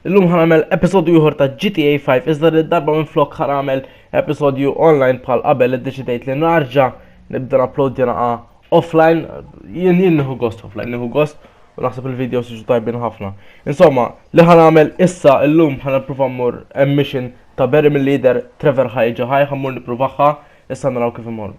Illum ħanamel episodju ieħor ta' GTA 5 iżda li darba minn flok ħanamel episodju online bħal qabel iddeċidejt li narġa' nibda upload jinaqa' offline jien jien nieħu gost offline nieħu gost u naħseb il-video siġu tajbin ħafna. Insomma, li ħanamel issa illum ħanipprova mmur mission ta' Barry mill-leader Trevor ħajġa ħaj ħammur nippruvaħħa issa naraw kif imorru.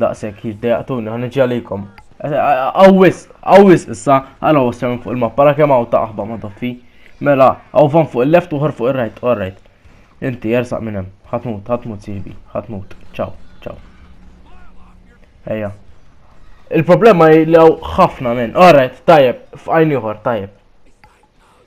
Daqshekk jiddejaqtuni ħa niġi għalikom. Awwis, awwis issa, għala wassam fuq il-mappa ra kemm hawn ta' aħba ma' doffi. Mela, hawn fan fuq il-left uħar fuq ir-right, all right. Inti jersaq minn hemm, ħatmut, ħatmut sibi, ħatmut. Ciao, ciao. Ejja. Il-problema li hawn ħafna minn. All right, tajjeb, f'għajn ieħor, tajjeb.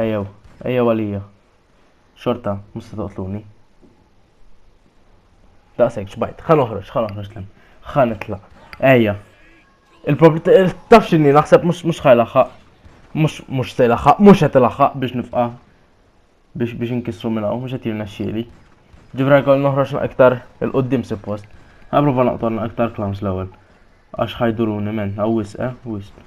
Ejjew, ejjew għalija. Xorta, musta toqtluni. Daqsek, xbajt, ħan uħroġ, ħan uħroġ l ħan itla. Ejja. Il-problem, taf xinni, naħseb mux mux ħajlaħħaq. Mux mux sejlaħħaq, mux għet laħħaq biex nifqa. Biex biex nkissru minna, mux għet jirna xieli. Ġivra kol noħroġ iktar il-qoddim suppost. Għaprofa naqtorna iktar klams l-ewel. Għax ħajduruni men, għaw wisq, eh, wisq.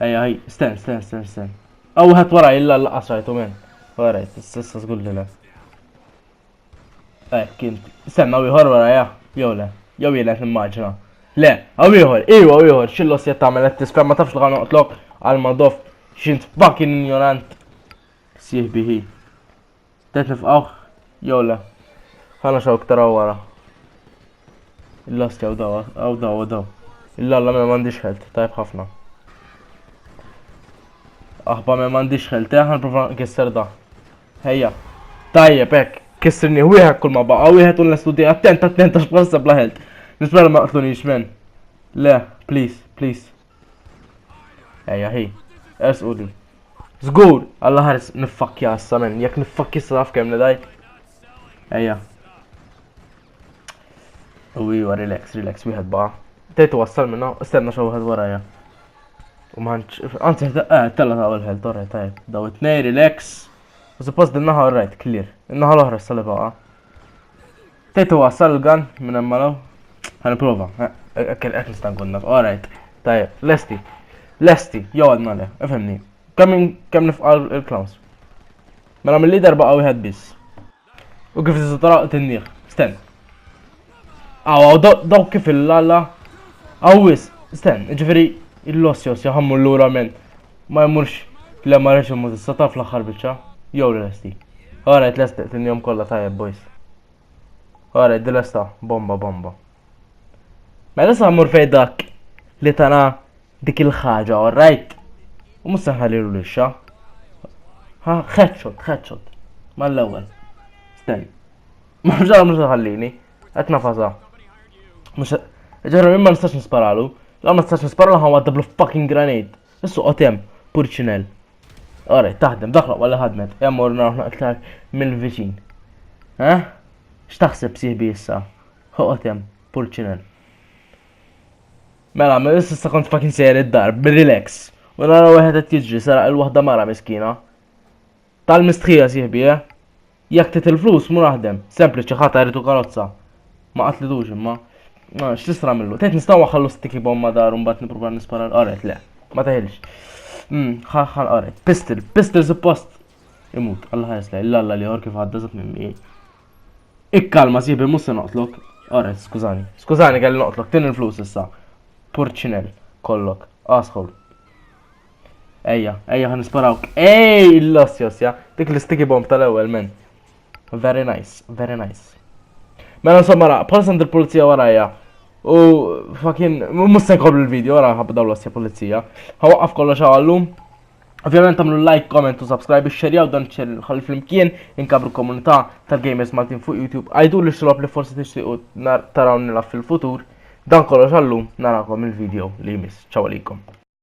Ej, ej, sten, sten, sten, sten. Aw wieħed wara illa l-laqas rajtu minn. Wara, s-sessa żgur li le. Ej, kien. Stenna wieħor wara ja, jew le. Jew jien qed nimmaġina. Le, għaw ieħor, iwa ieħor, xillos jett tagħmel qed tiskar ma tafx li għan noqtlok għal madof xint fucking ignorant. Sieħ biħi. Tet nifqawh jew le. Ħana xaw ktara wara. Il-last jew daw, għaw daw, għaw daw. Il-lalla me mandiġ ħelt, tajb ħafna. Aħba me mandiġ ħelt, eh, ħan prova kisser da. Ħejja. Tajjeb, ek, kissirni wieħed kull ma baqa, wieħed u l-estudi attent, attent, għax bħal sebla ħelt. Nispera ma qtlunix men. Le, please, please. Ejja, hi. Ers u din. Zgur! Alla ħares niffakja issa men, jek niffakja issa taf kem nedaj. Ejja. U iwa, relax, relax, wieħed ba. Tejtu wassal minna, istenna xa wieħed warajja. U maħanċ, għanzi, eh, tella ta' għal-ħel, torre, tajb. Daw it-nej, relax. U suppost din naħa rajt, clear. Naħa l-oħra s-salibaqa. Tejtu wasal l-gan minn hemm malaw. Ħan prova. Hekk eh, eh, eh, nista' nkun naf. Alright. Tajjeb, lesti. Lesti, jew għadna le, ifhimni. Kemm kemm nifqal il-clowns. Mela mill-lider baqa' wieħed biss. U kif tista' tara tinnieh. Sten. Aw, daw kif il-lalla. Awis, sten, ġifieri il-lossjos jaħammu l-lura minn Ma jmurx le ma rridx imur issa taf l-aħħar biċċa. Jew li lesti. Ara qed lest tinjom kollha tajjeb boys. Ara qed lesta bomba bomba. Mela sa mmur fejn dak li tana dik il-ħaġa, all right? U mhux se ħallilu lixxa. Ha, headshot, headshot. Mal-ewwel. Stenni. Ma ġara mhux ħallini. Qed nafaza. Mhux ġara minn ma nistax nisparalu. La ma nistax nisparalu ħan waddablu fucking granate. Issu qotem, purċinel. Ora, taħdem, dak laqwa li ħadmet. Hemm mor naraw aktar mill-viċin. Eh? X'taħseb sieħbi issa? Ħoqotem, purċinel. Mela, ma issa kont fucking sejjer id-dar, relax. U nara wieħed qed jiġri saraq il-waħda mara miskina. Tal-mistħija sieħbi, eh? Jekk tit il-flus mur aħdem, sempliċi ħata jritu karozza. Ma qatlidux imma. X'tistra millu? Tgħid nistgħu waħħallu sticky bomb ma dar u mbagħad nipprova nispara l-qaret le. Ma teħilx. Hmm, ħal qaret. Pistol, pistol suppost. Imut, Allah ħares lej, l-alla li jor kif għadda zat minn mi. Ikkalma sibi mhux se noqtlok. Qaret, skużani. Skużani kelli noqtlok, tin il-flus issa. Purċinel, kollok, asħol. Ejja, ejja ħan nisparawk. Ej, los jos, ja. Dik l-sticky bomb tal-ewwel men. Very nice, very nice. Mela insomma ra, bħal send il-pulizija warajja. U fakin, mus se nkomplu l-video wara ħabba daw l-osja pulizija. Ħawaqqaf kollox għallum. Ovvijament għamlu like, comment u subscribe, xerjaw dan ċer ħalli flimkien inkabru komunità tal-gamers Maltin fuq YouTube. Għajdu li xlob li forsi tixtiqu taraw nilaf fil-futur. Dan kollox għallum narakom il-video li jmiss. Ċaw għalikom.